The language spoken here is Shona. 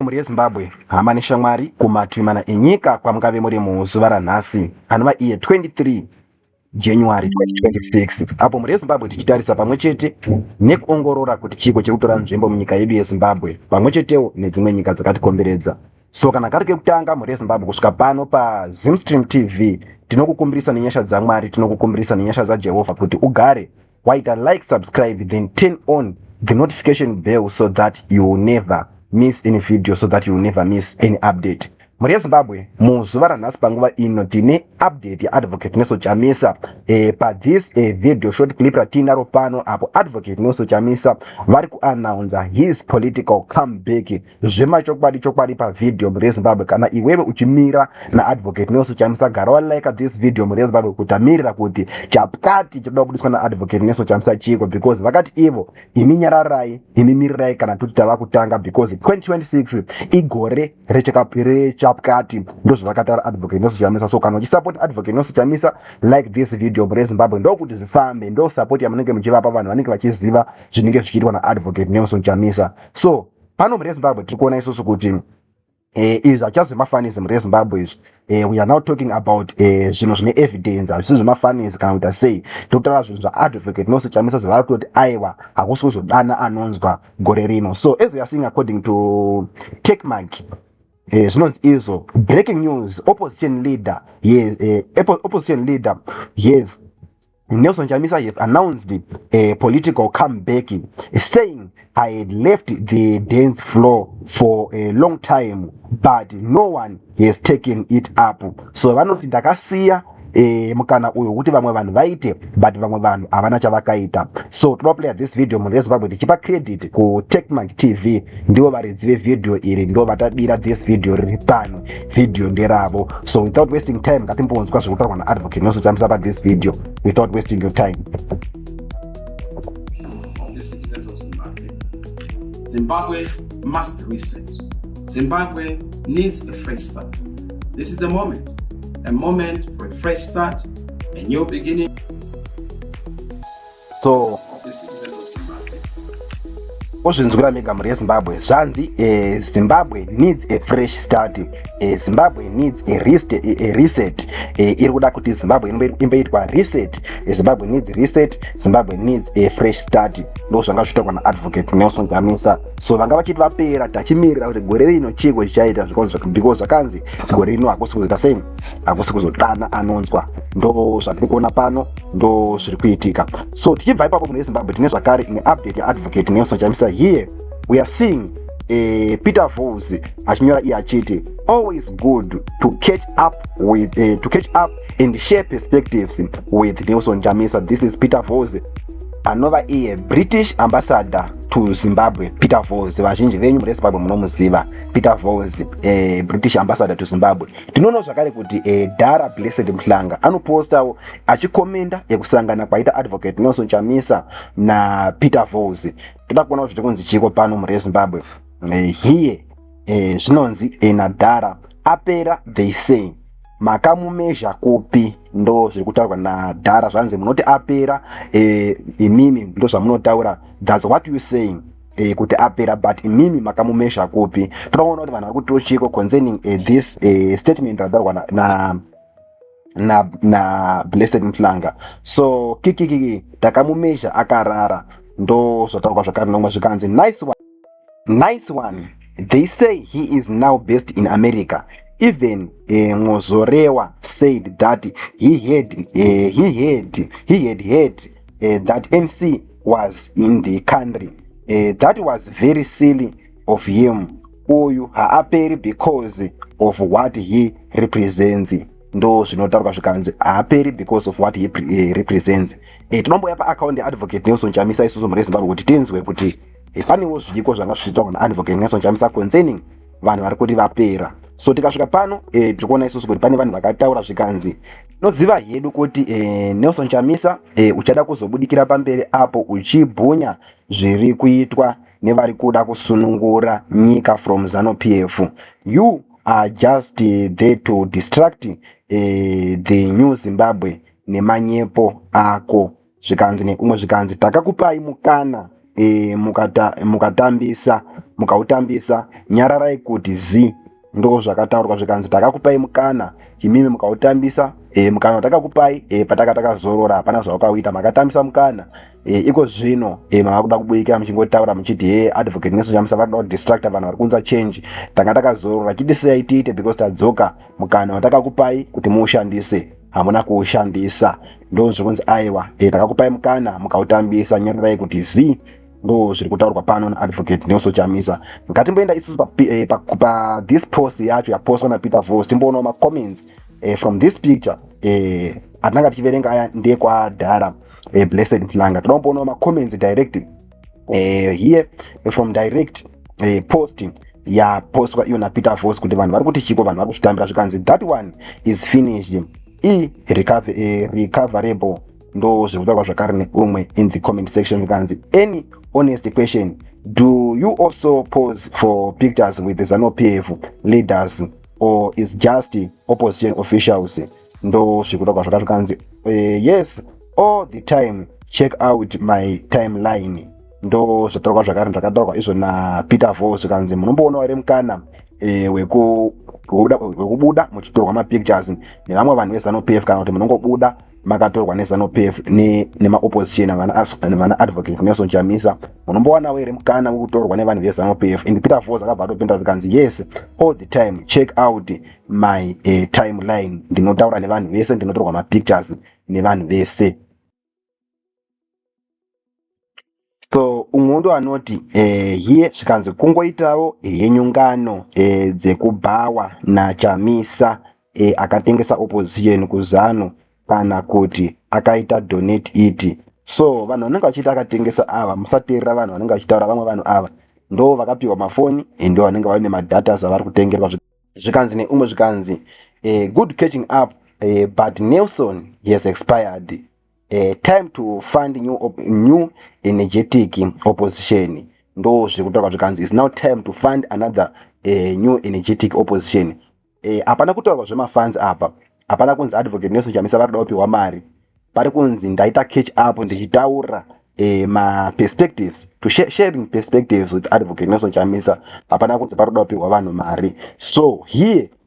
mhuri yezimbabwe hama neshamwari kumatwi mana enyika kwamungave muri muzuva ranhasi anova iye 23 january 2026 apo mhuri yezimbabwe tichitarisa pamwe chete nekuongorora kuti chiiko chiri kutora nzvimbo munyika yedu yezimbabwe pamwe chetewo nedzimwe nyika dzakatikomberedza so kana kari kekutanga mhuri yezimbabwe kusvika pano pazimstream tv tinokukumbirisa nenyasha dzamwari tinokukumbirisa nenyasha dzajehovha kuti ugare waita like subscribe then turn on the notification bell so that you will never miss any video so that you will never miss any update mhuri yezimbabwe muzuva ranhasi panguva ino tine update yaadvocate neso chamisa e, pathis e, video short clip ratiinaro pano apo advocate neso chamisa vari kuannouncer his political comeback zvemachokwadi chokwadi pavhidhiyo mhuri yezimbabwe kana iwewe uchimira naadvocate nelson chamisa gara walika this video mhuri yezimbabwe kutamirira kuti chaptati chinoda kubudiswa naadvocate nelson chamisa chiiko because vakati ivo imi nyararai imi mirirai kana tuti tava kutanga because 2026 igore rechapkati ndozvavakatara advocate nelson chamisa so kana uchisapoti advocate nelson chamisa like this video mhuri yezimbabwe ndokuti zvifambe ndosapoti yamunenge muchivapa vanhu vanenge vachiziva zvinenge zvichiitwa naadvocate nelson chamisa so pano mune zimbabwe tiri kuona isusu kuti Eh, izvi hachazi zvemafanisi mure zimbabwe izvi eh, we are now talking about eh, zvinhu zvine evidence hazvisi zvemafanisi kana kuita sei tokutaura zvinhu zvaadvocate nose chamisa zvavari kutoti aiwa hakusi kuzodana anonzwa gore rino so as weare seeing according to techmark zvinonzi eh, izvo breaking news opposition leader yes eh, opposition leader yes Nelson Chamisa has announced a political comeback, saying, I had left the dance floor for a long time, but no one has taken it up. So vanoti ndakasiya eh, mukana uyo kuti vamwe vanhu vaite but vamwe vanhu havana chavakaita so toda kuplaya this video munhu vezimbabwe tichipa credit kutechmark tv ndivo varidzi vevideo iri ndo vatabira this video riri pano video nderavo so without wasting time ngatimbonzwa zviri kutaurwa naadvocate nelson chamisa pa this video without wasting your time zimbabwe must reset zimbabwe needs a fresh start this is the moment a moment for a fresh start a new beginning so ozvinzwira mega mhuri yezimbabwe zvanzi eh, zimbabwe needs a fresh start eh, zimbabwe needs a, rest, eh, a reset iri kuda kuti zimbabwe imboitwa reset zimbabwe needs reset zimbabwe needs a fresh start ndo zvanga zvitaurwa naadvocate nelson jamisa so vanga vachiti vapera tachimirira kuti gore rino chiiko chichaita because zvakanzi gore rino hakusi kuzoita sei hakusi kuzodana anonzwa ndo zvatiri kuona pano ndo zviri kuitika so tichibva ipapo mune zimbabwe tine zvakare imwe update yaadvocate nelson chamisa here we are seeing eh, peter vos achinyora iye achiti always good to catch up with eh, to catch up and share perspectives with nelson chamisa this is peter vos anova iye british ambassador to zimbabwe peter vos vazhinji venyu muri zimbabwe munomuziva peter vos eh, british ambassador to zimbabwe tinoonawo zvakare kuti eh, dara blessed mhlanga anopostawo achikomenda yekusangana kwaita advocate nelson chamisa napeter vos toda kuona kuti kunzi chiiko pano mhuri yezimbabwe eh, here eh, zvinonzi ena dhara apera they say makamumezha kupi ndo zviri kutaurwa nadhara zvanzi munoti apera eh, imimi ndo zvamunotaura thats what you saying eh, kuti apera but imimi makamumesha kupi tinoona kuti vanhu vari kutiwo chiiko concerning eh, this eh, statement radaurwa na, na na, na blessed mhlanga so kikikiki takamumezha akarara ndo zvataurwa zvakare nomwe zvikanzi nice one. nice one they say he is now based in america even eh, mozorewa uh, said that he had, uh, he had, he had heard uh, that mc was in the country uh, that was very silly of him uyu haaperi because of what he represents ndo zvinotaurwa zvikanzi haaperi because of what he eh, represents e, tinombouya paakaundi yeadvocate nelson chamisa isusu mhuri yezimbabwe kuti tinzwe kuti eh, panewo zviiko zvanga zvichiitwa kuna advocate nelson chamisa concerning vanhu vari kuti vapera so tikasvika pano e, tiri kuona isusu kuti pane vanhu vakataura zvikanzi noziva hedu kuti e, nelson chamisa e, uchada kuzobudikira pamberi apo uchibhunya zviri kuitwa nevari kuda kusunungura nyika from zanu pf you are just eh, there to distract uh, the new zimbabwe nemanyepo ako zvikanzi nekumwe zvikanzi takakupai mukana e, mukata, mukatambisa mukautambisa nyararai kuti zi ndozvakataurwa zvikanzi takakupai mukana imimi mukautambisa e, mukana watakakupai e, pataka takazorora hapana zvawakauita makatambisa mukana e, iko zvino e, mava kuda kubudikira muchingotaura muchiti he advocate nesu chamusa vari kuda kudistracta vanhu vari kunza change tanga takazorora chiti sei tiite because tadzoka mukana watakakupai kuti muushandise hamuna kuushandisa ndozvikunzi aiwa e, takakupai mukana mukautambisa nyarirai kuti zii ndo zviri kutaurwa pano naadvocate nelson chamisa ngatimboenda isusu pa, eh, pa, pa this post yacho yapostwa napeter vos timboonawo macomments eh, from this picture eh, atinanga tichiverenga aya ndekwadhara eh, blessed mhlanga toda kumboonawo macomments direct eh, here from direct eh, posting yapostwa iyo napeter vos kuti vanhu vari kuti chiko vanhu vari kuzvitambira zvikanzi that one is finished e recoverable ndozviri kutaurwa zvakare neumwe in the comment section zvikanzi any honest question do you also pose for pictures with the zanu pf leaders or is just opposition officials ndozviri kutaurwa zvakare zvikanzi eh, yes all the time check out my timeline ndo zvataurwa zvakare zvakataurwa izvo napeter vo zvikanzi munomboonawo here mukana e, wekubuda muchitorwa mapictures nevamwe vanhu vezanupf kana kuti munongobuda makatorwa nezanu pf nemaopposition ne vana advocate nelson chamisa munombowanawo here mukana wekutorwa nevanhu vezanu pf and peter vos akabva atopindura zvikanzi yes all the time check out my uh, eh, timeline ndinotaura nevanhu vese ndinotorwa mapictures nevanhu vese so umwe ndo anoti eh, hiye zvikanzi kungoitawo henyu ngano eh, dzekubhawa nachamisa eh, akatengesa opposition kuzanu kana kuti akaita donate iti so vanhu vanenge vachiita akatengesa ava musateerera vanhu vanenge vachitaura vamwe vanhu ava ndo vakapiwa mafoni eh, ndo vanenge vaine madatas avari kutengerwa zvikanzi neumwe zvikanzi eh, good catching up eh, but nelson he has expired Uh, time to fund new, op new energetic opposition ndo zviri kutaurwa zvikanzi is now time to fund another uh, new energetic opposition eh, hapana uh, kutaurwa zvemafunds apa hapana kunzi advocate nelson chamisa vari kuda kupiwa mari pari kunzi ndaita catch up ndichitaura eh, maperspectives to sh sharing perspectives with advocate nelson chamisa hapana kunzi pari kuda kupiwa vanhu mari so here